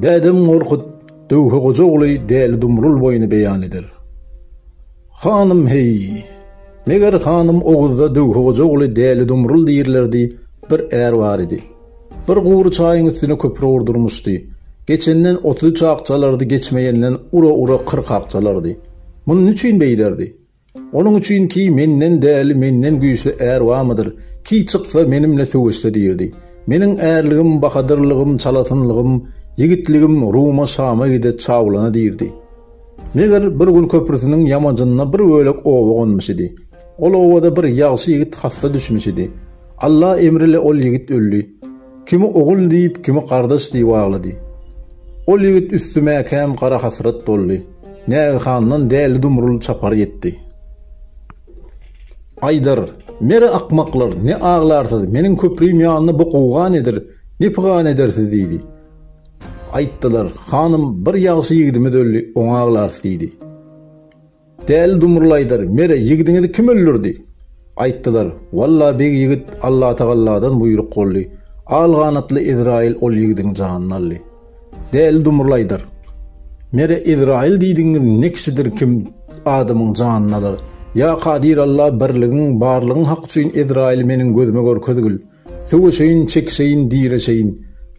Dädem Gorkut Döwhe goja ogly Däli Dumrul boýuny beýan eder. Hanym heý! Meger hanym Oguzda Döwhe goja ogly Däli Dumrul diýirlerdi, bir är bar idi. Bir gury çaýyň üstüne köpri gurdurmuşdy. Geçenden otuz üç ak çalardy, geçmeýenden ura-ura kyrk ak çalardy. Muny niçin beýderdi? Onuň üçin ki menden däli menden güýçli är barmydyr, ki çyksa menimle söweşse diýirdi. Meniň ärligim, bahadyrlygym, çalasynlygym, ýigitligim Ruma, Şama gide, çawlana diýirdi. Meger, bir gün köprüsiniň ýamajynda bir bölek oba gonmuş idi. Ol obada bir ýagşy ýigit hassa düşmüş idi. Alla emri ile ol ýigit öldi. Kimi ogul diýip, kimi gardaş diýip aglady. Ol ýigit üstüme kän gara hasrat doldy. Nägehandan däli-dumrul çapar ýetdi. Aýdar, Mere akmaklar, ne aglarsyz, meniň köprüim ýanynda bu gowga nedir, ne pygan edersiz diýdi. Aýtdylar, Hanym, bir ýagşy ýigidimiz öldi, oňa aglarys diýdi. Däli dumrulaýdar, Mere, ýigidiňizi kim öldürdi? Aýtdylar, Walla, beg ýigit Allatagalladan buýruk boldy. Al ganatly Ezraýyl ol ýigidiň janyny aldy. Däli dumrulaýdar, Mere, Ezraýyl diýdigiňiz ne kişidir kim adamyň janyny alar? Ýa Kadir Alla, birligiň, barlygyň haky üçin Ezraýyly meniň gözüme görkezgil. Söweşeýin, çekişeýin, direşeýin,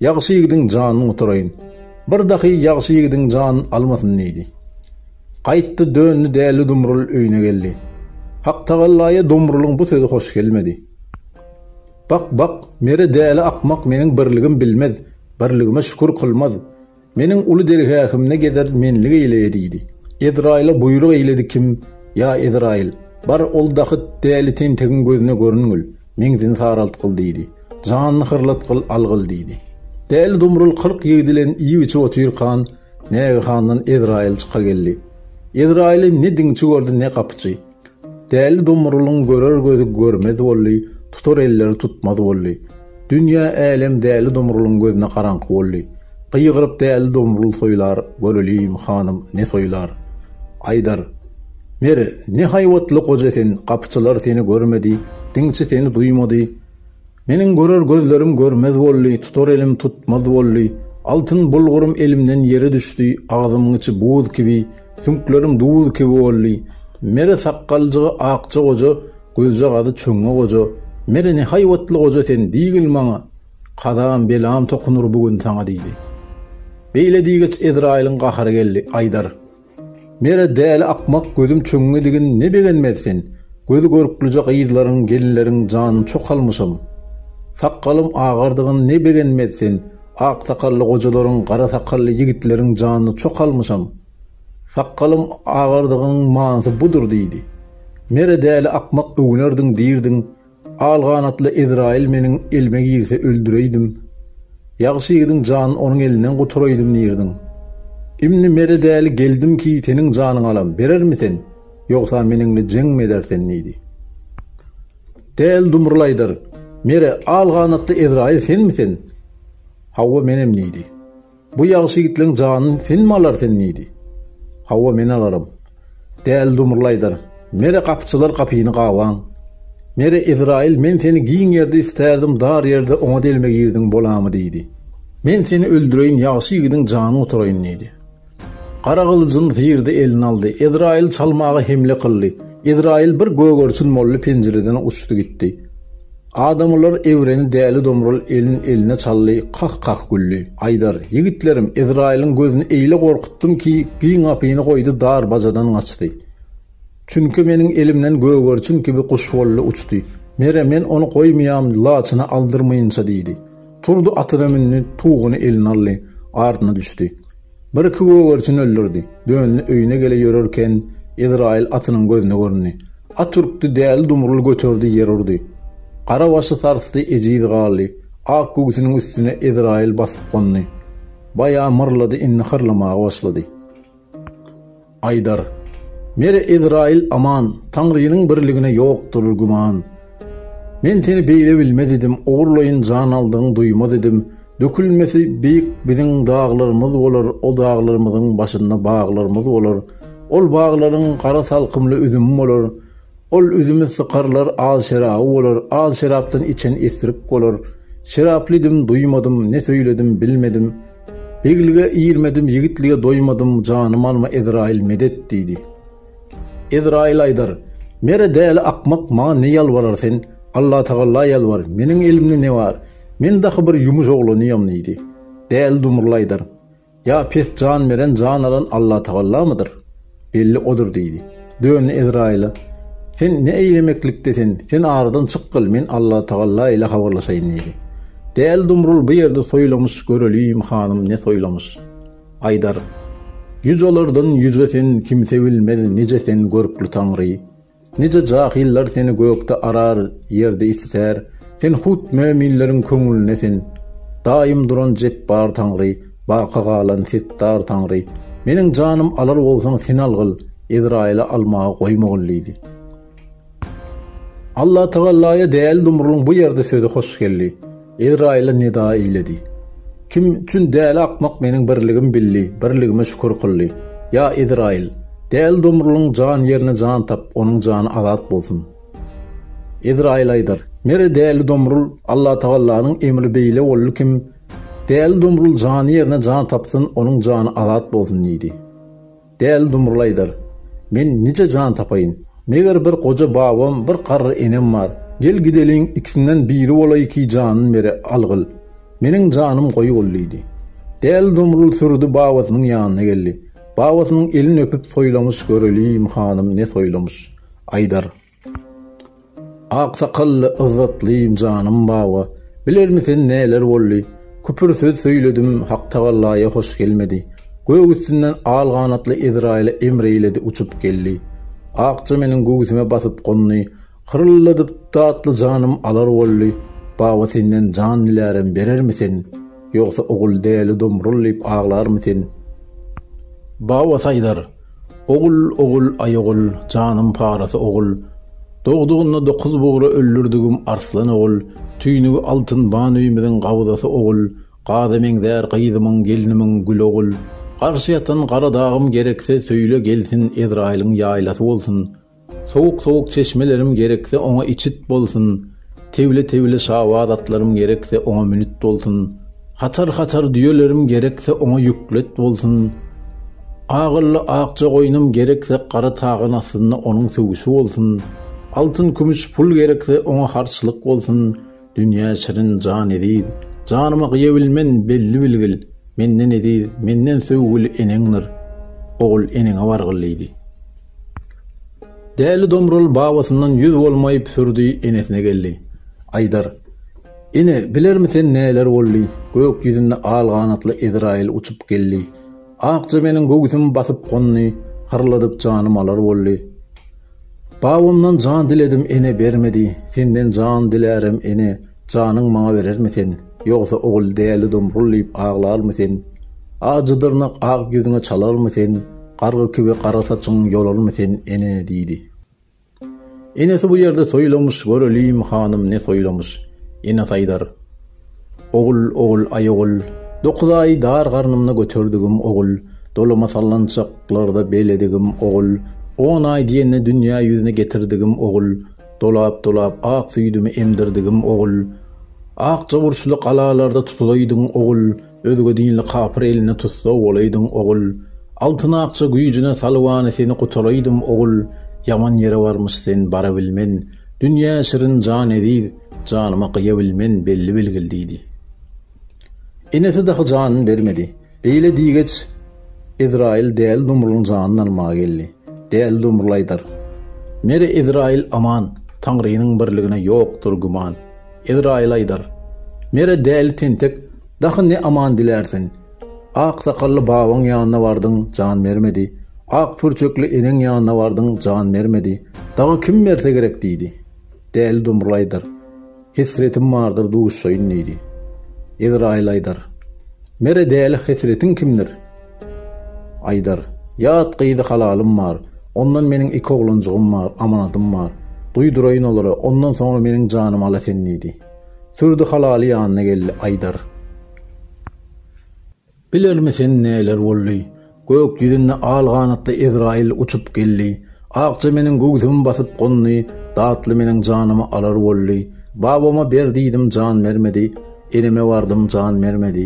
Ýagşy ýigidiň janyny gutaraýyn. Bir dahy ýagşy ýigidiň jan almasyn diýdi. Gaýtdy, döndi Däli Dumrul öýüne geldi. Haktagallaýa Dumrulyň bu sözi hoş gelmedi. Bak, bak, mere däli akmak meniň birligim bilmez, birligime şükür kylmaz. Meniň uly dergähimde gezer menlik eýle diýdi. Ezraýyla buýruk eýledi kim, Ýa Ezraýyl, bar ol dahyt däli tentegiň gözüne görüngil, meňzini saraltgyl diýdi. Janyny hyrlatgyl, algyl diýdi. Däli Dumrul kyrk ýigit bilen iýip-içip otyrkan, nägehandan Ezraýyl çykageldi. Ezraýyly ne diňçi gördi, ne gapyçy. Däli Domrulyň görer gözi görmez boldy, tutar elleri tutmaz boldy. Dünýä, älem Däli Domrulyň gözüne garaňky boldy. Gygyryp Däli Domrul soýlar, göreliň, hanym, ne soýlar. Aýdar. Mer, ne haýbatly goja sen, gapyçylar seni görmedi, diňçi seni duýmady. Meniň görer gözlerim görmez boldy, tutar elim tutmaz boldy. Altyn bulgurym elimden ýere düşdi, agzymyň içi buz kibi, süňklerim duz kibi boldy. Mere sakgaljygy akja goja, gözjagazy çöňňe goja. Mere ne haýbatly goja sen, diýgil maňa, kazam, belam tokunur bu gün saňa diýdi. Beýle diýgeç Ezraýylyň gahary geldi, Aýdar! Nere däli akmak gözüm çöňňedigin ne begenmez sen, gözi görklüje gyzlaryň, gelinleriň janyny çok almyşam. Sakgalym agardygyn ne begenmez sen, ak sakally gojalaryň, gara sakally yigitleriň janyny çok almyşam. Sakgalym agardygynyň manysy budur diýdi. Nere däli akmak öwünerdiň diýirdiň, Al ganatly Ezraýyl meniň elime girse öldüreýdim, ýagşy ýigidiň janyny onuň elinden gutaraýdym diýerdiň. Imni mere däli geldim ki, seniň janyňy alam, berermi sen, ýogsa meniňle jeňmi eder sen? diýdi. Däli dumrul aýdar, Mere, al ganatly Ezraýyl senmi sen? Hawa, menem diýdi. Bu ýagşy ýigitleň janyny sen mi alar sen diýdi. Hawa men alarym. Däli dumrul aýdar, Nere gapyçylar gapyny gabaň. Nere Ezraýyl men seni giň ýerde istärdim dar ýerde oňa delme girdiň bolamy diýdi. Men seni öldüreýin ýagşy ýigidiň janyny gutaraýyn diýdi. Gara gylyjyny zyrdy eline aldy. Ezraýyl çalmaga hemle kyldy. Ezraýyl bir gögerçin boldy penjireden uçdy gitdi. Adamlar egreni Däli Domrul elin eline çaldy, kah-kah güldi. Aýdar, Ýigitlerim, Ezraýylyň gözüni eýle gorkutdym ki, giň gapyny goýdy, dar bajadan gaçdy. Çünki meniň elimden gögerçin kibi guş boldy, uçdy. Mere, men ony goýmaýam, laçyny aldyrmaýynça diýdi. Turdy atyna mündi, tuguny eline aldy, ardyna düşdi. Bir-iki gögerçini öldürdi. Döndi, öýüne gele ýörerken, Ezraýyl atynyň gözüne göründi. At ürkdi, däli dumruly göterdi, ýer urdy. Gara başy sarsdy, ejiz galdy. Ak göwsüniň üstüne Ezraýyl basyp gondy. Baýa myrlady, indi hyrlamaga başlady. Aýdar, Mere Ezraýyl aman, Taňrynyň birligine ýokdur güman. Men seni beýle bilmez idim, Ogurlaýyn jan aldygyň duýmaz idim. Dökülmesi beýik biziň daglarymyz bolar, O daglarymyzyň başynda baglarymyz bolar. Ol baglaryň gara salkymly üzümi bolar, Ol üzümi sykarlar az şeraby bolar, Az şerapdan içen esrik bolar. Şeraply idim, duýmadym, ne söýledim, bilmedim. Beglige irmedim, ýigitlige doýmadym, janymy alma, Ezraýyl, medet! diýdi. Ezraýyl aýdar, Mere däli akmak, maňa ne ýalbarar sen, Allatagalla ýalbar, meniň elimde ne bar, men dahy bir ýumuş oglanyam diýdi. Däli dumurly aýdar, Ýa pes jan beren, jan alan Allatagallamydyr? Belli odur diýdi. Döndi Ezraýyla, Sen ne eýlemeklikde sen, sen aradan çykgyl, men Allatagalla ile habarlaşaýyn diýdi. Däl Dumrul bu ýerde soýlamyş, göreliýim hanym ne soýlamyş. Aýdar, Ýüc olardan ýüce sen, kimse bilmez, nije sen görkli taňry. Nice jahyllar seni gökde arar, ýerde isitär, sen hut möminleriň köňlüne sen. Daýym duran Jepbar Taňry, baky galan Setdar Taňry, meniň janym alar bolsaň sen algyl, Ezraýyly almaga goýmagyn diýdi. Allatagalaýa däli Dumrulyň bu ýerde sözi hoş geldi. Ezraýyla nida eýledi. Kim üçin däli akmak meniň birligim bildi, birligime şükür kyldy. Ýa Ezraýyl! Däli domrulyň jan ýerine jan tap, onuň jany azat bolsun! Ezraýyl aýdar, Mere däli domrul, Allatagallanyň emri beýle boldy kim Däli domrul jany ýerine jan tapsyn, onuň jany azat bolsun diýdi. Däli dumrul aýdar. Men nije jan tapaýyn. Meger bir goja babam, bir garry enem bar. Gel gideliň, ikisinden biri bolaý ki janyn bere, algyl. Meniň janym goýy bol diýdi. Däli dumrul sürüdi babasynyň ýanyna geldi. Babasynyň elin öpüp soýlamyş göreliýim hanym ne soýlamyş. Aýdar. Aksakally yzzatlym janym baba bilermi sen näler boldy küpür söz söýledim haktagalaýa hoş gelmedi gök üstünden al ganatly ezraýyla emreýledi uçup geldi akja meniň göwsüme basyp gondy hyryldadyp datly janym alar boldy baba senden jan dilärem berermi sen ýogsa ogul däli domrul diýip aglarmy sen baba saýdar. Ogul, ogul, aý ogul, janym parasy ogul, Dogdugynda dokuz bugra öldürdigim arslan ogul, Tüýnügi altyn ban öýümiziň gabzasy ogul, Gaza meňzär gyzymyň, gelnimiň gül ogul, Garşy ýatan gara dagym gerekse söýle gelsin Ezraýylyň ýaýlasy bolsun. Sowuk sowuk çeşmelerim gerekse oňa içit bolsun, Tewli tewli şabaz atlarym gerekse oňa münit bolsun, Hatar hatar düýelerim gerekse oňa ýüklet bolsun, Agylly akja goýnum gerekse gara tagan astynda onuň söwüşi bolsun, Altyn kümüş pul gerekse oňa harçlyk bolsun, Dünýä şirin jan eziz, janyma gyýabilmen belli bilgil, Menden eziz, menden söwgüli eneňdir, ogul eneňe bargyl diýdi. Däli Domrul babasyndan ýüz bolmaýyp sürdi enesine geldi. Aýdar. Ene, bilermi sen näler boldy? Gök ýüzünde al ganatly Ezraýyl uçup geldi. Akja meniň göwsümi basyp gondy, hyrladyp janym alar boldy. Babamdan jan diledim ene bermedi, senden jan dilärem ene, Janyň maňa berermi sen? Ýogsa ogul dälidom gul diýip aglarmy sen? Ajy dyrnak ak ýüzüňe çalarmy sen? Gargy kibi gara saçyň ýolarmy sen, ene? diýdi. Enesi bu ýerde soýlamyş, göreliýim, hanym, ne soýlamyş? Ene saýdar. Ogul, ogul, aý ogul, dokuz aý dar garnymda göterdigim ogul, dolama sallançaklarda beledigim ogul, on aý diýende dünýä ýüzüne getirdigim ogul, Dolap-dolap ak süýdümi emdirdigim ogul, Akja burçly galalarda tutulaýdyň ogul, Özge dinli kapyr eline tussag bolaýdyň ogul, Altyn akja güýjüne salybany seni gutalaýdym ogul, Ýaman ýere barmyş sen barabilmen, Dünýä şirin jan eziz, janyma gyýabilmen, Belli-bilgil diýdi. Enesi dahy janyn bermedi. Beýle diýgeç, Ezraýyl Däli Domrulyň janyny almaga geldi. Däli Domruly aýdar, Mere Ezraýyl aman, Taňrynyň birligine ýokdur güman. Ezraýyl aýdar, Mere däli tentek, dahy ne aman dilärsiň? Ak sakally babaň ýanyna bardyň, jan bermedi. Ak pürçekli eneň ýanyna bardyň, jan bermedi. Dagy kim berse gerek diýdi. Däli Domruly aýdar. Hesretim bardyr duşaýyn diýdi. Ezraýyl aýdar. Mere däli hesretiň kimdir? Aýdar. Ýat gyzy halalym bar. Ondan meniň iki oglanjygym bar, amanadym bar. Duýduraýyn olara, ondan soňra meniň janym ala sen diýdi. Sürdi halaly ýanyna geldi. Aýdar. Bilermi sen näler boldy? Gök ýüzünde al ganatly Ezraýyl uçup geldi. Akja meniň göwsümi basyp gondy, Datly meniň janymy alar boldy. Babama ber diýdim, jan bermedi, Eneme bardym, jan bermedi.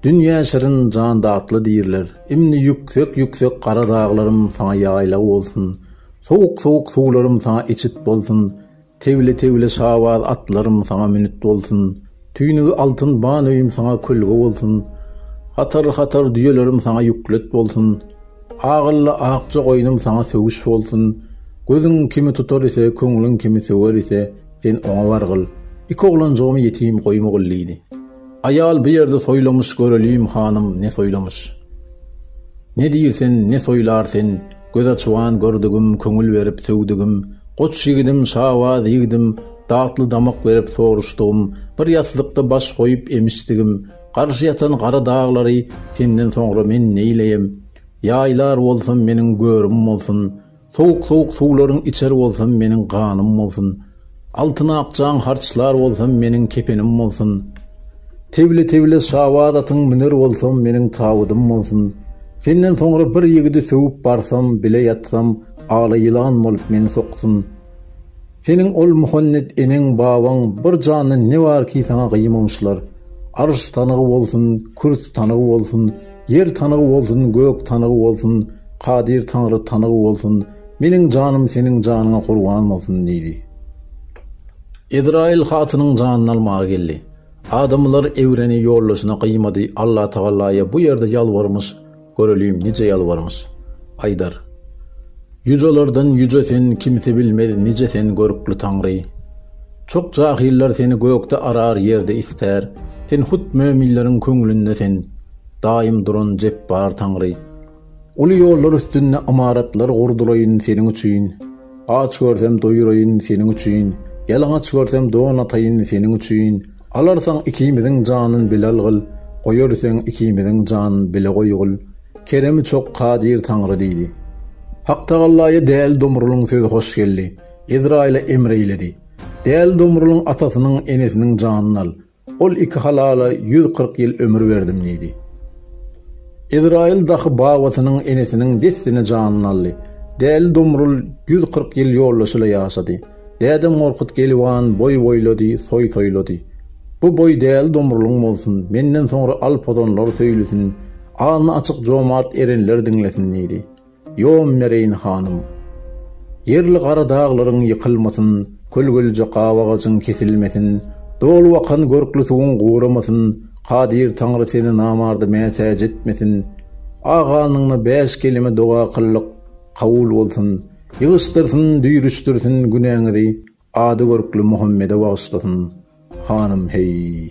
Dünýä şirin, jan datly diýrler. Indi ýüksek-ýüksek gara daglarym saňa ýaýlag bolsun. Sowuk-sowuk suwlarym saňa içit bolsun. Tewle-tewle şabaz atlarym saňa münit bolsun, Tüýnügi altyn ban öýüm saňa kölge bolsun, Hatar-hatar düýelerim saňa ýüklet bolsun, Agylly akja goýnum saňa söwüş bolsun. Gözüň kimi tutar ise, köňlüň kimi söwer ise, sen oňa bargyl. Iki oglanjygymy ýetim goýmagyldiýdi. Aýal bu ýerde soýlamyş göreliýim hanym ne soýlamyş. Ne diýr sen ne soýlar sen göz açyban gördigim köňül berip söwdigim goç ýigidim şabaz ýigidim datly damak berip soruşdygym bir ýaslykda baş goýup emişdigim garşy ýatan gara daglary senden soňra men neýleýem ýaýlar bolsam meniň görüm bolsun Sowuk-sowuk suwlaryň içer bolsam meniň ganym bolsun, Altyn akjaň harçlar bolsam meniň kepenim bolsun, Tebli-tebli şabaz atyň müner bolsam meniň tabydym bolsun, Senden soňra bir ýigidi söwüp barsam, bile ýatsam, ala ýylan bolup meni soksun. Seniň ol Muhannet eneň babaň bir jandan ne bar ki saňa gyýmamyşlar. Arş tanygy bolsun, kürsü tanygy bolsun, ýer tanygy bolsun, gök tanygy bolsun, Kadyr Taňry tanygy bolsun, meniň janym seniň janyňa gurban bolsun diýdi. Ezraýyl hatynyň janyny almaga geldi. Adamlar Ewreni ýoldaşyna gyýmady, Allatagalaýa bu ýerde ýalbarmyş, Göreliň, nije ýalbarmyş. Aýdar. Ýujalardan ýuja sen, kimse bilmez, nije sen, görkli Taňry. Çok jahyllar seni gökde arar, ýerde istär, sen hut möminleriň köňlünde sen, daýym duran Jepbar Taňry. Uly ýollar üstünde ymaratlar gurdulaýyn seniň üçin, aç görsem doýuraýyn seniň üçin, ýalaňaç görsem don ataýyn seniň üçin, Alarsaň ikimiziň janyn bilal gyl, Goýar seň ikimiziň janyn bile goýgul, Keremi çok kadyr Taňry diýdi. Haktagallaýa Däli Domrulyň sözi hoş geldi. Ezraýyla emr eýledi. Däli Domrulyň atasynyň, enesiniň janyn al. Ol iki halala ýüz kyrk ýyl ömür berdim diýdi. Ezraýyl dahy babasynyň, enesiniň dessine janyn aldy. Däli Domrul ýüz kyrk ýyl ýoldaşyla ýaşady. Dädem Gorkut Gelibhan boý boýlady, toý toýlady. Bu boý Däli Domrulyň bolsun, menden soňra al pozanlar söýlüsin, alny açyk jomart erenler diňlesin diýdi. Ýom bereýin hanym. Ýerli gara daglaryň ýykylmasyn, kölgelije gabagajyň kesilmesin, dolup akan görkli suwuň guramasyn, kadyr Taňry seni namarda mätäç etmesin. Agalnyňna bäş kelime doga kyldyk, kabul bolsun. Ýygyşdyrsyn, düýrüşdirsin günäňizi, Ady görkli Muhammede bagyşlasyn, hanym, heý!